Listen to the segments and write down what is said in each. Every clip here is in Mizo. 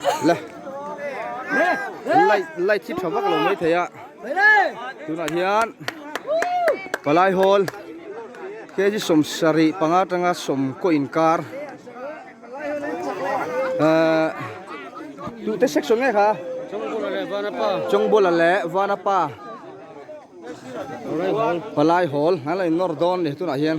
La light light hi tha vak lo mai thei a tunah hian palai hawl k g sawm sarih panga tanga sawm kaw inkar ahh tute section nge kha chawngbola leh vanapa palai hawl an lo innawr dawn a ni tunah hian.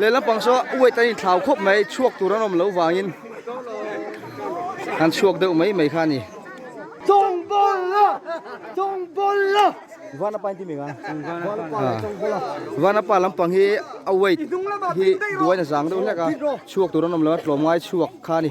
Leh lampang saw weight an inthlau khawp mai chhuak tur an awm lo vangin an chhuak deuh mai mai kha a ni. Chawng bawla, chawng bawla. Vana pa intimi nga. Vana pa lampang hi a weight hi duaina zang deuh hlek a, chhuak tur an awm lo a, tlawm ngai chhuak kha a ni.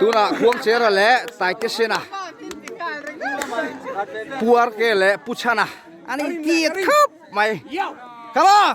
tunah khuang chera leh taite sena puar ke leh pu chhana an inti thap mai come on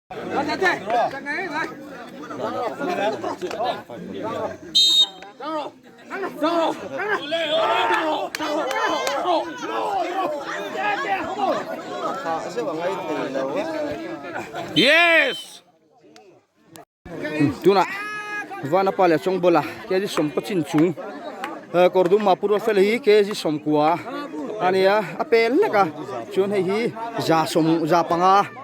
tunah vanapa leh chawngbawl kg sawmkua chin chung kawr dum ha pu ruatfel hi kg sawmkua a nia a pel hlek a chuan hei hi za sawm za panga.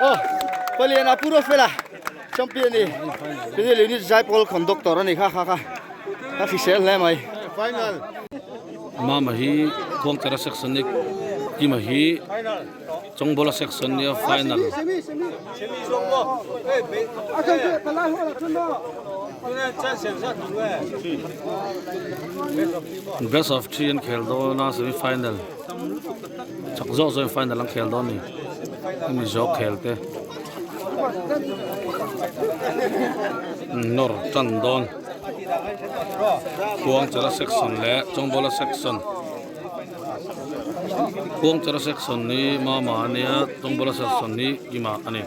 Oh, palian a puro fela. Champion ni. Pini le ni zai pol khon doctor ani kha kha kha. Ka fi sel hle mai. Final. Mama hi khong tera section ni. Ima hi chong bola section ni final. Semi semi. Semi zong mo. Hey, be. A kan tu ta lai ho la chun mo. Best of three an khel dawn a semi final. Chak zawk zawkin final an khel dawn ni. Hemi zawk khel te. Nor chan dawn. Khuang chara section le chawngbola section. Khuang chara section ni mama ania chawngbola section ni ima ani.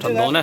Chan dawn e.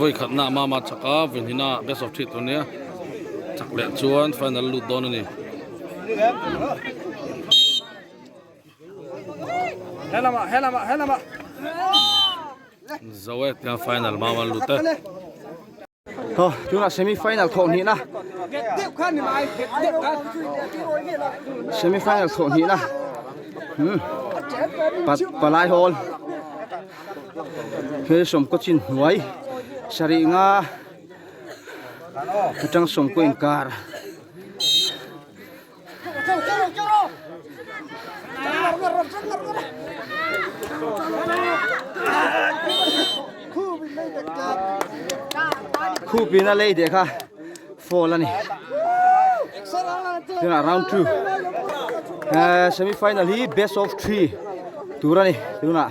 Vawikhatna mama chhaka vawnhina best of three tur nia chak leh chuan final a lut dawn a ni. Zoe tiang final mama lut e. Haw, tunah semi final thawh hnih na. Semi final thawh hnih na. Hmm. Pat palai hol. He som ko chin huai. Sari nga. Atang som ko inkar. khupin a lei deh kha fall a ni tunah round two semi final hi best of three tur a ni tunah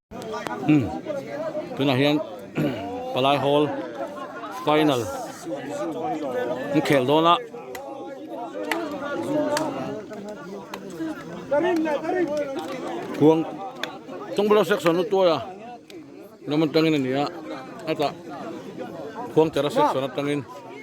Umm tunah hian palai hawl final an khel dawn a khuang chungbula section a tuaia lam atangin a nia hetah khuangchara section atangin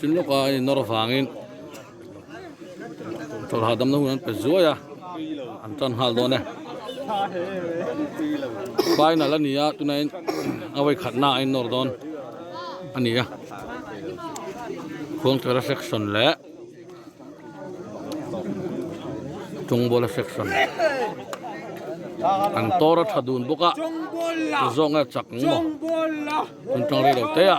Chun lawka an innawr avangin chawlh hahdamna hun an pe zuai a, an tan nghal dawn e. Final a ni a, tunain a vawikhatna a innawr dawn a ni a. Khuangtera section leh Chungbawla section an tawr a tha dun bawk a, zawng nge chak ang maw, chungchang rei lo teh a.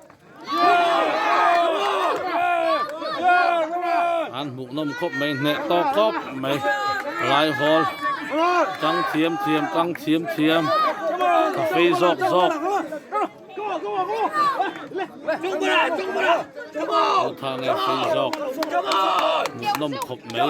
an hmuhnawm khawp mai hneh tawk tawk mai alai hawl chang thiam thiam chang thiam thiam ka fei zawk zawk Aw tha nge fei zawk hmuhnawm khawp mai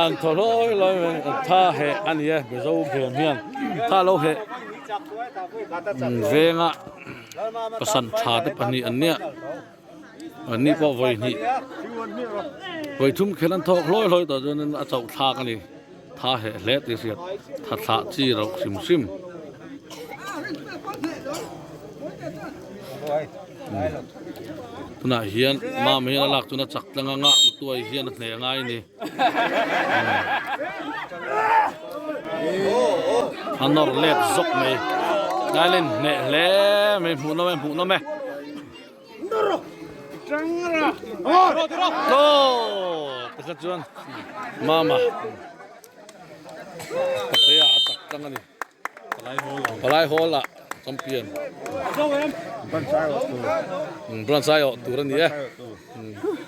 An thaw hlawi hlawi mai a, tha heh a ni e, Mizo Gem hian tha lo heh venga pasan tha te pahnih an nia, an ni pawh vawi hnih, vawi thum khen an thawk hlawi hlawi tawh chuan in a chauh thlak a ni, tha heh hle tih a hriat, tha thlah chi rauh hrim hrim. Tunah hian mama hian a lak tuna chak tlang ang a, u Tuai hian a hneh a ngai ni. A nawr let zawk mai. Nailen hneh hle mai, hmuh nawm e, hmuh nawm e. Hlawk! Tikha chuan mama pathei ah a chak tlang a ni. Palai Hall ah champion Branch aiawh tur a ni e.